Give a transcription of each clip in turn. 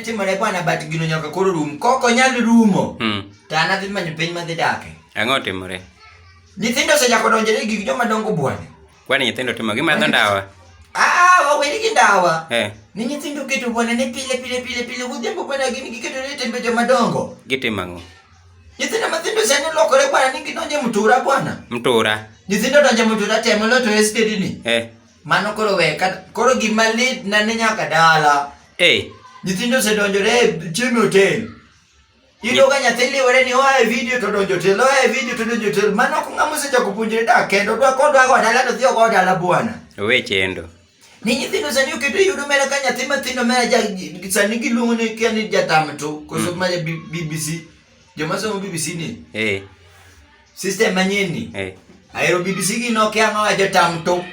timore bwana but gino nyaka koro rum koko nyal rumo hmm. to an adhi manyo piny madhi dake ang'o otimore nyithindo osechako donjore gik joma dongo bwana kwani nyithindo timo gimadho ndawa waweri gi ndawa eh. ni nyithindo keto bwana ne pile pile pile pile godhiambo bwana gin giketo ne tembe joma dongo gitimo ang'o Nyithindo mathindo sani lokore bwana ni gidonje mtura bwana. Mtura. Nyithindo donje mtura temo lo to estate ni. Eh. Mano koro we ka koro gima lit na ni nyaka dala. Eh. Nyithindo se donjo re chiemo hotel. Ido ga nyathi liwore ni oa e video to donjo hotel, oa e video to donjo hotel. Mano ko ngamo se chako puonjre dak kendo dwa kodwa go dala to dhio go dala bwana. Owe chendo. Ni nyithindo sani oketo yudo mera ka nyathi mathindo mera ja sani giluongo ni kia ni jatam to koso mm. ma BBC joma somo BBC ni. Eh. System manyien ni. Eh. Aero BBC gi no kia no jatam to.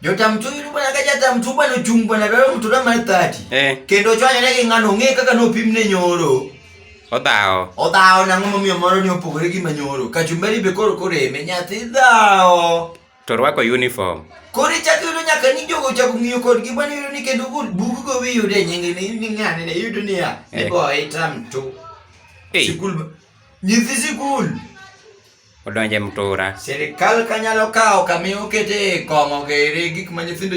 Jotam tu yudo bana ka jatam tu bana chung bana daro mtu da mar 30. Eh. Kendo chwanya ne gi ngano ng'e kaka no pim ne nyoro. Odhawo. Odhawo nang'o momiyo moro ni opogore gi manyoro. Kachumbari be koro koreme nyathi dhawo. To rwako uniform. Koro ichak yudo nyaka ni jogo chako ng'iyo kodgi bwana yudo ni kendo gol bugu go wi yudo e nyinge ni ni ng'ane ne yudo ni ya. Ni Eh. boy tam to. Hey, Sikul. ba- Nyithi sikul. odonje mtura. Sirikal kanyalo kawo kama okete kong'o gere gik ma nyithindo